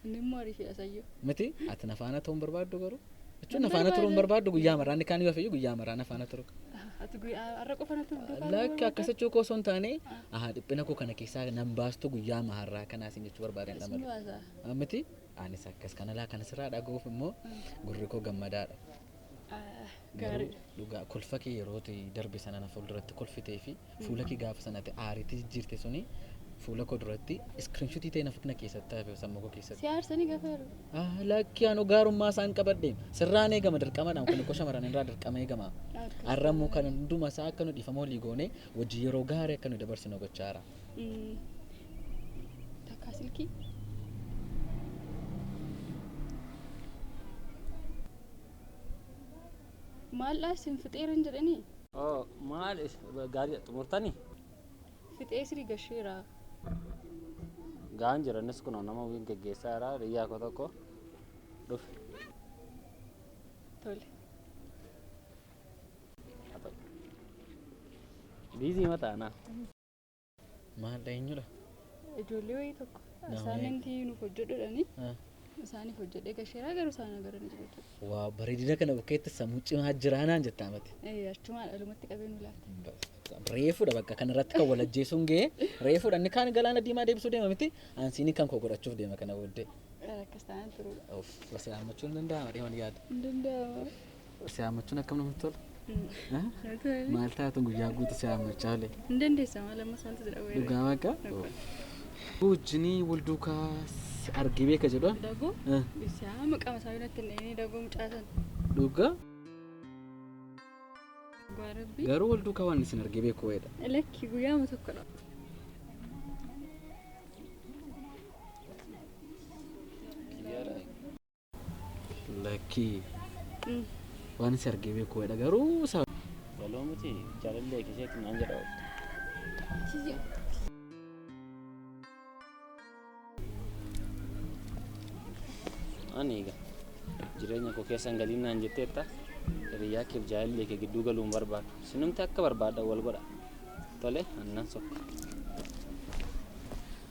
Inni immoo ariifidha sayyoo. miti ati na faana ta'uun barbaaddu garuu jechuun na faana turuun barbaaddu guyyaa maraa inni kaan yoo fayyu guyyaa maraa na faana turu Ati guyyaa har'a qofa na turdu. lakki akkas jechuu koo osoo hin taane aha dhiphina koo kana keessaa nan baastu guyyaa maharraa kanaa isin jechuu barbaadeen Isin dhamale waasaa. miti anis akkas kanalaa kana sirraa dhaga'uuf immoo gurri koo gammadaadha Garuu dhugaa kolfa kee yeroo ati darbe sana na fuulduratti kolfitee fi fuula kee gaafa sana ati aariitti jijjiirte suni fuula koo duratti iskiriinshutii ta'e na na keessatti hafe sammuu koo keessatti. Si aarsanii gafa yeroo. Ah, Lakkii anoo gaarummaa isaan qabadhe sirraan eegama dirqamadhaan kun koo shamarran irraa dirqama eegama. Akkas Har'a immoo kan hunduma isaa akka nu dhiifama walii goone wajjin yeroo gaarii akka nu dabarsinu gochaa jira. Mm. Takkaa silkii. Maaldhaa isin fixeeran jedhanii? Oo maal is- gaarii xumurtani? Fixee sirii gasheera. Ga'aan jiranis kunoo nama wiin geggeessaa jira riyyaa koo tokko dhufe. Tole. Biizii mataanaa. Maaldha eenyudha? Ijoollee wayii tokko Namoonni- asaamintii nuuf hojjedhudhani Ah, isaaniif hojjedhee gasheeraa garuu isaan agaranii jiru jechuudha. Waa bareedina kana bukkeetti sammuu cimaa jiraanaan jettaa mati. Eh, Achumaa dhalumatti qabee nu laata. Reefudha bakka kanarratti kan wal ajjeesuun ga'e reefudha inni kaan galaana diimaa deebisuu deema miti ansiini kan koo godhachuuf deema kana booddee. Akkas taanaan turuudha. Of basalaammachuun danda'ama deeman yaada. Hin danda'ama. Si haammachuun akkam namatti tola? Maal taatu guyyaa guutuu si haammachaa olee? Hin dandeessa maal ammas wanti jira weeree. Dhugaa waaqa? Wajjinii wal duukaa si argee beeka jedhu. Dagoo Eh. isaa maqaa masaa biratti hin dhahine dagoo mucaasan. Dhugaa Dhugaa rabbi. garuu wal duukaa waan isin argee beeku wayiidha. Lakki guyyaama tokkodha. Lakkii. Waan si argee beeku wayiidha garuu sa. Waloo miti jaalallee keessatti naan jedha oolta. Ani egaa jireenya koo keessan galiin naan jetteetta hiriyaa keef jaalallee kee gidduu galuun barbaadu. Sinumti akka barbaaddan wal godha. Tole annan sokka.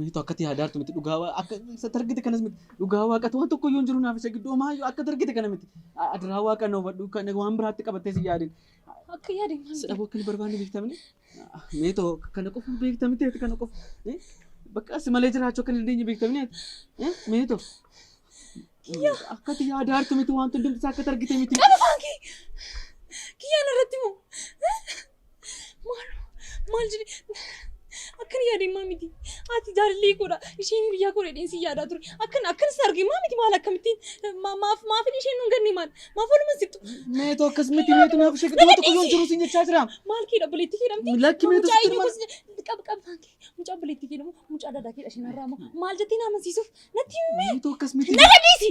Mitu akkati haadaartu miti dhugaa waa akka isa targite kanas miti dhugaa waaqatu waan tokko iyyuu jiru naaf isa gidduu homaa iyyuu akka targite kana miti adiraa waaqa na hubadhu kan waan biraatti qabattee si yaadin akka yaadin si dhabuu akka hin barbaanne beektamni mitu kana qofa beektamni ta'e kana qofa bakka si malee jiraachuu akka hin dandeenye beektamni mitu akkati haadaartu miti waan hundumti isaa akka targite miti. Kiyyaa narratti moo? Maaloo maal jedhe akkan yaadeen maa miti ati jaalallee koodha isheen biyyaa koodha jedheen si yaadaa ture akkan akkan si arge maa miti maal akkamittiin ma- maaf maafin isheen nun ganne maal maaf oluma sittu Meetu akkas miti meetu naaf ishee giddu tokko yoon jiru siin jechaa jira. maal keedha obboleetti keedhamti Lakki meetu mucaa sitti eenyu himaa- gosa qab qabaan kee mucaa obboleetti keedhamu mucaa daadaa keedha isheen irraa moo maal jettee na amansiisuuf natti himee Meetu akkas miti. na gadhiisi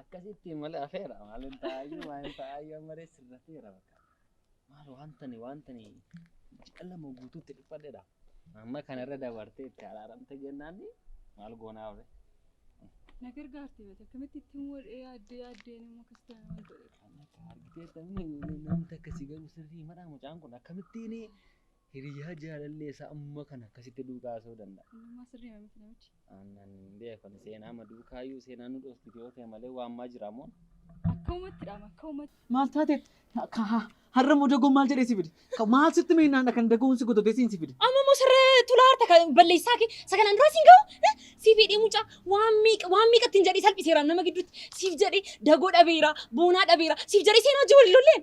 Akkasitti malee afeera maal hin taa'ayyuu maal hin taa'ayyuu amma reessi irra ta'eera bakka. Maal wantani wantani ji'a lama guutuutti dhiphadheedha. Amma kanarra dabartee itti araaramte jennaan maal goonaa oole. Na gargaarti mata akkamitti ittiin wadhee yaaddee yaaddee nama akkasitti nama hin godhe. Kan akka argitee tamni namni akkasii garuu sirrii madhaa mucaan kun akkamittiin Hiriyaa jaalallee isaa amma kana akkasitti duukaasuu danda'a. Innummaa sirrii miti namichi. Aannan hin beeku ani seenaa ma duukaayyuu seenaa nu dhoostiti yoo ta'e malee waan maa jira moon. Akka uumatti dhaama akka uumatti. Maal taate ka ha har'a moo dagoon maal jedhee si fide? Ka maal sitti meennaan dha kan dagoon si gododee siin si fide? Amma moo sirree tulaa harta kan balleessaa kee sagalaan duraa siin gahu eh, siif hidhee mucaa waan meeqa waan meeqa ittiin jedhee salphiseera nama gidduutti siif jedhee dagoo dhabeera boonaa dhabeera siif jedhee seenaa hojii waliin lolleen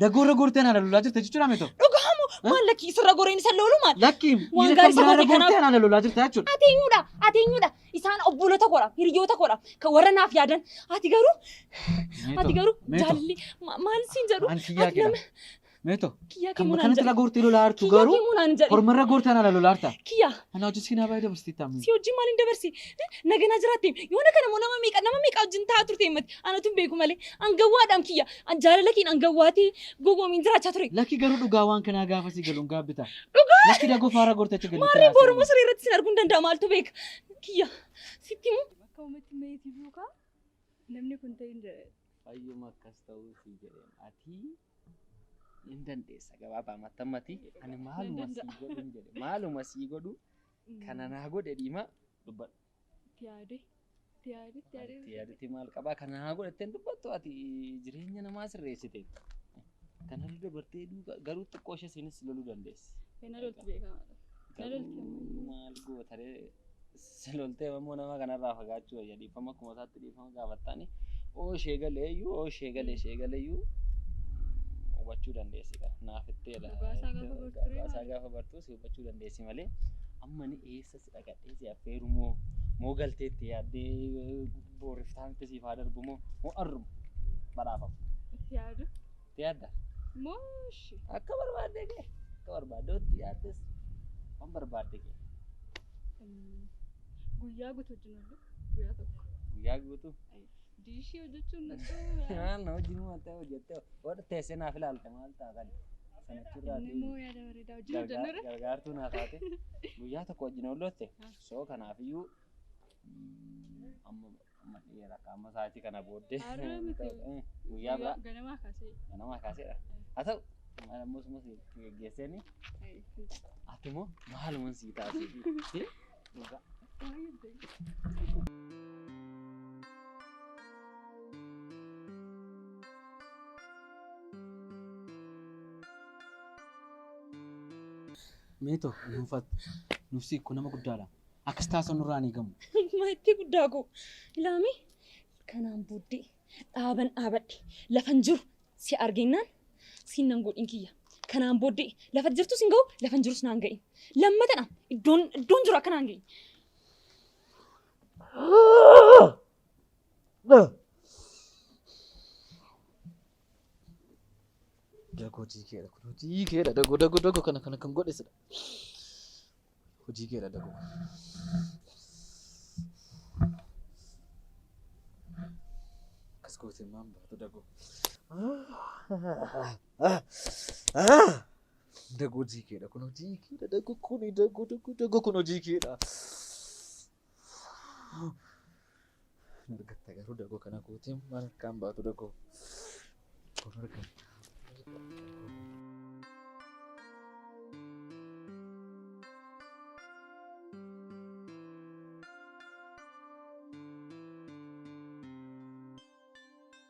Dagoorra goortee anaa lolaa jirta jechuudha meetoo. Dhugaa moo maal lakkii isarra goreen isa loolu maal? Lakkii Waan gaarii isa gootee kanaaf. anaa lolaa jirta jechuudha. Ati eenyudha? Ati eenyudha? Isaan obbolota koodha, hiriyoota koodha, kan warra naaf yaadan. Ati garuu, ati garuu jaalli ma- maal siin jedhu? An kiyyaa Ati kidha. nama Meetoo. kiyyaa Kan kee munaan kanatti irra jedhu. goortee lolaa jirtu Kiyyaa garuu kee munaan jedhu. hormarra goortee anaa lolaa jirta. Kiyyaa Anaa hojii siinaa baay'ee dabarsitii taa'amni. si hojii maaliin dabarsi? Naganaa jiraatte. Yoona kana moo nama meeqa nama meeqa wajjin taa'aa turte himmati? Anatu hin beeku malee. Angawwaadhaan kiyya. An jaalala keen an gawwaatii gowwoomiin jiraachaa ture. Lakki garuu dhugaa waan kanaa gaafa si galuun gaabbita. Dhugaa! Lakki dagoo faara gortacha galitti Maarree raasee. booruma siree irratti sin arguun danda'a maaltu beeka. Kiyya sitti himu. Akka uummatti meetii duukaa namni kun ta'in jedhe. Fayyuma akkas ta'uu si jedheen ati hin dandeessa gabaabaa mattammati ani maaluma sii godhu hin jedhe maaluma sii godhu kana naa godhe dhiima dubbadhu. Itti yaade. Itti yaade. Itti yaade. Itti yaadatti maal qabaa kana haa godhattee hin dubbattu ati jireenya namaa sirreessite. Kana irra dabartee duuka garuu xiqqoo ishee isiinis loluu dandeessi. Kana lolti beekamaadha. Kana lolti ammayyu. Maal gootaree si loltee ammoo nama kanarraa fagaachuu wayya dhiifama akkuma isaatti dhiifama. nama gaafattaani oo ishee galee iyyuu oo ishee galee ishee galee iyyuu hubachuu dandeessi kan naaf itteedha. Dhugaasaa gaafa bartu ture Dhugaasaa maali? gaafa bartu si hubachuu dandeessi malee amma ni eessa si dhaqadhee si affeeru moo moo galteetti yaaddee booriftaa miti siif haa darbu moo moo arrumu badhaafamu. Itti yaadu. Itti yaadda? Mooshi. Akka barbaadde kee akka barbaadde itti yaaddes waan barbaadde kee. Guyyaa guutuu wajjin oollu. Guyyaa tokko. Guyyaa guutuu. Ay, Diishii hojjechuun natti Waan hojii nu mattee hojjettee wadha teessee naaf ilaalte maal ta'a kan sanachirraa Inni immoo yaada bareedaa hojii hojjennu irra. gargaartuu naa taate guyyaa tokko wajjin oollotte soo kanaafiyyuu mm, amma amma dhiyeera akka amma sa'aatii kana booddee Har'a miti. Eh, guyyaa biraa Ganamaa kaasee. ganamaa kaaseedha haa ta'u maal ammoo suma si geggeesseeni Ay, ati immoo maaluman sii taasise Meeto nuufat nuufsi kun nama guddaadha. Akkas taasisa nurraa ni gamu. Maatii guddaa koo. Ilaami kanaan booddee Dhaaban dhaabadhe lafan jiru si argeennaan siin nan godhin kiyya. Kanaan booddee lafa jirtu sin ga'u lafan jirus naan ga'in. Lammatadha iddoon iddoon jiru akka naan ga'in. Dagoo tiikeedha kun tiikeedha dagoo dagoo dagoo kana kana kan godhe sila. Hojii kee dha dagoo. Akkas gootee maan baatu dagoo. Dagoo hojii kee dha kun hojii kee dha dagoo kun dagoo dagoo dagoo kun hojii kee dha. Argatta garuu dagoo kana kuutee maal harkaan baatu dagoo. Kun argatta.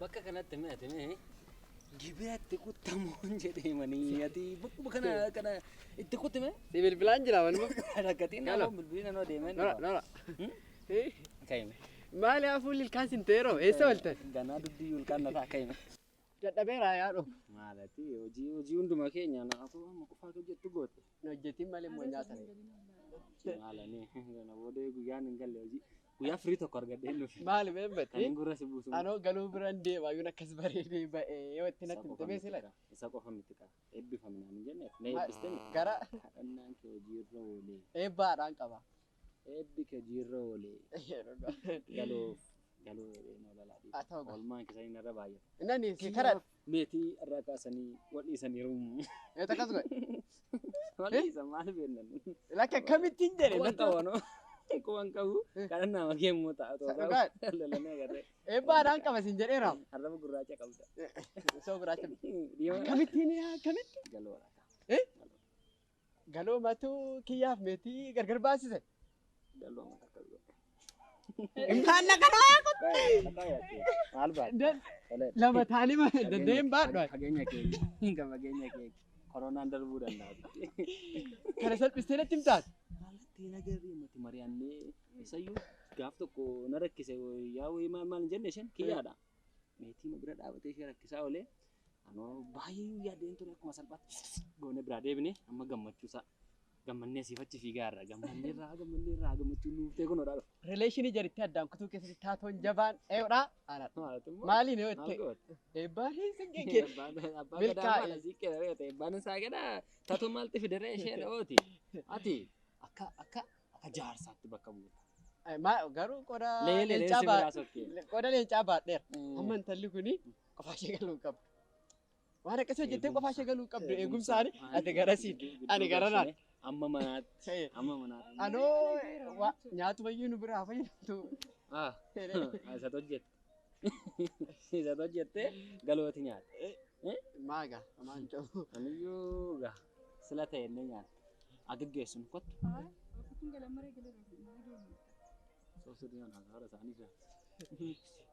Bakka kanatti mee ati mee gibira itti kuttamuun jedhee manii ati bakkuma kana kana itti kutti mee Si bilbilaan jira manuma. rakkatiin Hello. nama bilbilii nanoo deemee Nora, nora. Eh, kaime Maali haa fuulli ilkaan sin teeroo? Eessa waltan? ganaa dubbii ulkaan nataa kaime Dadhabeeraa yaa dhufu. maalati hojii hojii hunduma keenya naafuu amma qofaa hojjettu goote Hin hojjetiin malee immoo nyaata ree. Maalanii kana booda guyyaan hin galle hojii. Guyyaa firii tokko argadhee hin dhufe. Maali mee Kan battee? hin gurra si buusu. Anoo galuu biraan deema yoon akkas bareedee ba'ee yoo itti natti himte mee sila. Isa qofa miti qaba. Eebbifamnaan hin jenne. Na eebbistee miti. Gara Kadhannaan kee hojiirra oolee. eebbaadhaan qaba. Eebbi kee jiirra oole. Galuuf galuu dhabee noo lalaa dhiiga. Haa ta'u gaa. Oolmaan keessanii narra baay'ata. Innani si karaa. Meetii irraa kaasanii wal dhiisaniiru. Yoo takkas godhe. Wal dhiisan maal beeknan. Lakki akkamittiin jedhe. Kuwan qabu anoo. Kuwan qabu kanan nama keemmoo ta'a. Sa- dhugaa. Lalanii agarree. Eebbaa dhaan qaba siin jedheera. Arraba gurraacha qabda. Soo gurraacha. Diimaa. Akkamittiin yaa akkamitti. Galuu waraqaa. Eh? Galoomatu kiyyaaf meetii gargar baasise. Galooma takka godhe. Kan na kana Maal baadha? Lama taanii ma danda'een baadhu. Fageenya keenya. Hinga fageenya keenya. Koronaan darbuu danda'a. Kana salphistee natti himtaati. Maalatti nagarri nuti mari'annee isayyuu gaaf tokko na rakkise yaa wayii maal maal hin jenne isheen kiyyaadha. Meetii na bira dhaabatee ishee rakkisaa oolee Anoo baay'ee yaadeen ture akkuma salphaatti goone biraa deebine amma gammachuu isaa gammannee siif achi fiigaa irraa gammannee irraa gammannee irraa gammachuu nuuf ta'e kun odhaa Rileeshinii jaritti addaan kutuu keessatti taatoon jabaan ee'udha. dhufa. Maaliin yoo itti eebbaanii sin gegge. Abbaa Milkaa'e. gadaa maala siiqqee dha reete abbaan isaa gadaa tatu maalti fideree ishee dha'ooti ati akka akka akka jaarsaatti bakka buuta. Garuu qoda Leelee leencaa si biraa baadhe. sokkee. Qoda leencaa baadheera. Amma intalli kuni Mm. qofaa ishee galuu hin qabdu. Waan akkasii hojjettee qofaa ishee galuu hin qabdu. Eegumsaan ati garasiin ani garanaan. Amma manaatti. Ta'e. Amma manaatti. Anoo waa- nyaatu bayyuu nu biraa fayyadamtu. Ah, isatu hojjette. Isatu hojjette galooti nyaata. Maaga amaan ta'u. Aniyyuu gaa sila ta'e inni nyaata. Agaggeessu nu kottu. Soofsuu diinaan haala isaanii jira.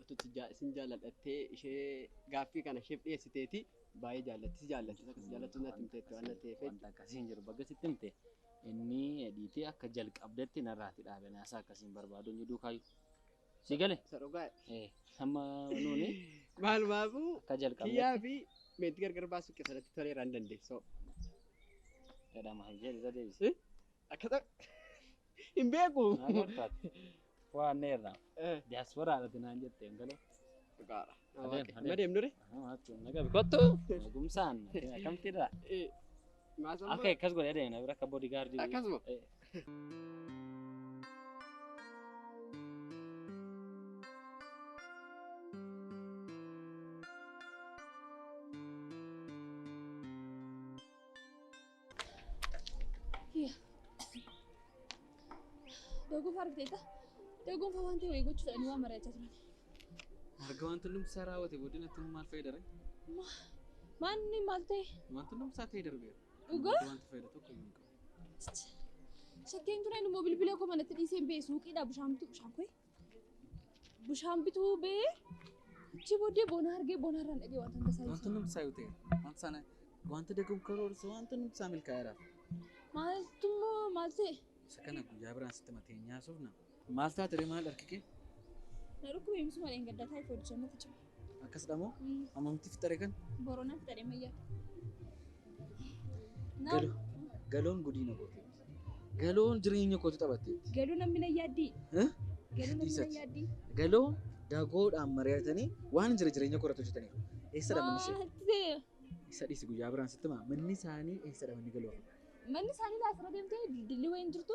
Utuu itti jaa- isin jaalladha jettee ishee gaaffii kana isheef dhiyeessiteeti baay'ee jaallatti si jaallatti isa akkasii jaallattu natti himteetti waan natti ta'eef Wanta akkasii hin jiru. Bakka sitti himte inni dhiitee akka jalqabdetti narraati dhaabe. Naasaa akkasiin barbaadu hin jiduu kaayu. Si gale? isa dhugaa Eh, Amma nuuni maalumaafuu akka kiyyaa jalqabnetti fi meetti gargar baasuu keessatti toleeraan dandeessoo. jedhama. Jedhe isa deebise. Eh? Akkata hin beeku. Waan neerraa. Diyaasporaa irratti naan jette hin galee. Dhugaadha. Adeem, adeem. Madeem dure. Kottu gumsaan akkamti irraa. Maasaan Akka akkas godhee deemna bira akka boodigaardii. Akkasuma. Daguun fa'aa argiteetta. Daguun fa'aa wanti wayii gochuu fedhanii waan mari'achaa turan. Erga wanti hundumti isaa raawwate booddee natti maal fayyadare? Maanni maal ta'e? Wanti hundumti isaa ta'ee darbeera. Dhugaa? Wanti fayyada tokko hin qabu. Shakkeen tureen immoo bilbila koo manatti dhiisee hin ba'e suuqiidhaa bishaan bituu bishaan koo. Bishaan bituu bee achi booddee boona argee boona irraan dhagee wanta tasaa Wanti nuti isaa yoo ta'e wanta sana wanta dagamu karoorsa wanta nuti isaa milkaa'eera. Maaltu immoo maal ta'e? Isa kana guyyaa biraan sitti matee nyaasuuf na. Maal taate ree maal harki kee? Na dhukkubee miti malee hin gaddaa taa'e foodisee miti cima. Akkasidha moo? Ammamti fixxare kan? Borona fixxare mayya. Galo. Galoon gudiina kooti. Galoon jireenya kooti taphatteetti. Galuu namni na yaaddii. Galuu namni na yaaddii. Galoo dagoodhaan mari'atanii waan jira jireenya koratu jetaniiru. Eessa dha manni ishee? Isa dhiisi guyyaa biraan sitti maa manni isaanii eessa dha manni galoo? Manni isaanii laafira deemtee dildilli wayii hin jirtu.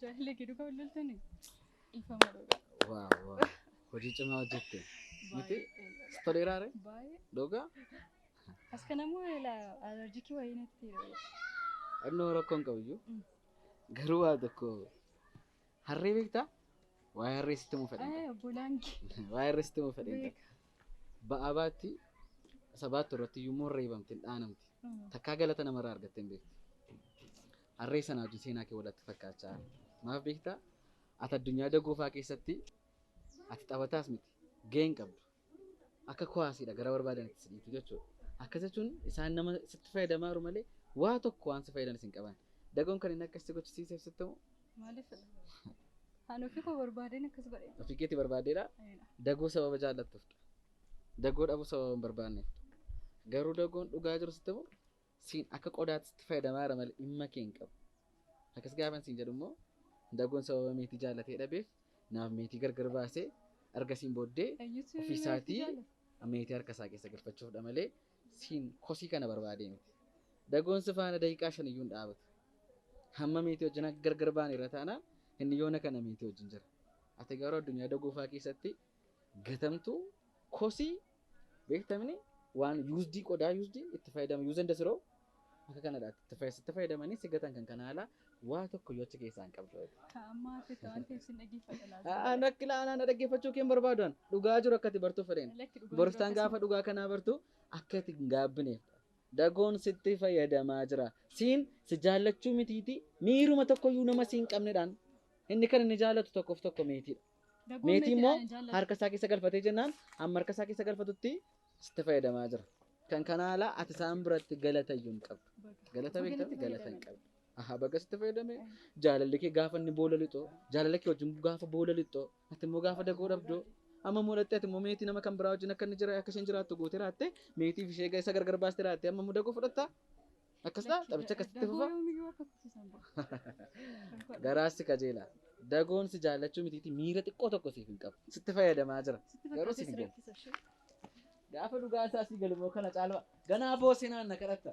Jaalle gidu kan loltani. Ifama dhuga. Waaw waaw. Hojii cimaa hojjette. Miti? Si toleeraa ree? Baay'ee. Dhugaa? As kana moo ila alerjikii wayii natti hidhame. Annoo rakkoo hin qabu iyyuu. Mm. Garuu waa tokko harree beektaa? Waa'ee harree sitti muu fedhan. Eh obbolaan kee. Waa'ee harree sitti muu fedhan. Beeka. Ba'aa baatti, isa baattu irratti iyyuu immoo reebamte, hin dhaanamti. Takkaa galata namarraa argattee hin beektu. Harree sanaa wajjin seenaa kee walatti fakkaachaa. Maaf beektaa? Ati addunyaa dagoofaa keessatti ati taphataas miti. Gahee hin qabdu. Akka kuwaasiidha gara barbaadanitti si dhiitu jechuudha. Akkas jechuun isaan nama sitti fayyadamaa jiru malee waa tokko waan si fayyadan isin qaban. Dagoon kan inni akkas si gochisiiseef sitti himu Maaliif ani ofii koo barbaadeen akkas godhe. Ofii keetti barbaaddeedha. Dagoo sababa jaallattuuf. Dagoo dhabuu sababa hin barbaanneef. Garuu dagoon dhugaa jiru sitti immoo siin akka qodaatti sitti fayyadamaa jira malee dhimma kee hin qabu. Akkas gaafan siin jedhu immoo dagoon sababa meetii jaallatee dhabeef naaf meetii gargar baasee argasiin booddee ofii isaatii meetii harka isaa keessa galfachuufdha malee Siin kosii kana barbaadee miti. Dagoon si faana daqiiqaa shan iyyuu hin dhaabatu. Hamma meetii wajjin akka gargar baaneerra taanaan inni yoona kana meetii wajjin jira. Ati garuu addunyaa dagoo fa'aa keessatti gatamtuu kosii beektamni waan yuusdii qodaa yuusdii itti fayyadama yuuz enda siroo Akka kanadha ati itti fayyad- sitti fayyadamanii si gatan kan kana haala waa tokko yoo achi keessaa hin qabdu. Ka amma hafe ka waan ta'eef sin dhaggeeffadha laata. Aan akka ilaalaan na dhaggeeffachuu kee hin barbaadu an dhugaa jiru akka ati bartuuf fedheen. Lakki dhugaa Boroftaan jiru gaafa dhugaa kanaa bartu akka ati hin gaabbineef. Dagoon sitti fayyadamaa jira. Siin si jaallachuu mitiiti miiruma tokkoyyuu nama siin qabnedhaan inni kan inni jaallatu tokkoof tokko meetiidha. Dagoon Meetii meetiidhaan immoo hin jaallatu. harka isaa keessa galfatee jennaan amma harka isaa keessa galfatutti sitti fayyadamaa jira. Kan kana ala ati isaan biratti galata iyyuu hin qabdu. Galata beektamu galata hin qabdu. Ahaa baga sitti fayyadame jaalalli kee gaafa inni boola lixu jaalala kee wajjin gaafa boola lixu ati immoo gaafa dagoo dhabdu amma immoo lattee ati immoo meetii nama kan biraa wajjin akka inni jira akka isheen jiraattu gootee raatte meetiif ishee isa gargar baastee raatte amma immoo dagoo fudhatta Akkas ta'a taphicha akkasitti fufa. Garaassi qajeelaa. Dagoon si jaallachuu mitiiti miira xiqqoo tokko siif hin qabu. Sitti fayyadamaa jira. Garuu siif hin galu. Gaafa dhugaa isaa si galu moo kana caalaa ganaa boosee naan na kadhatta.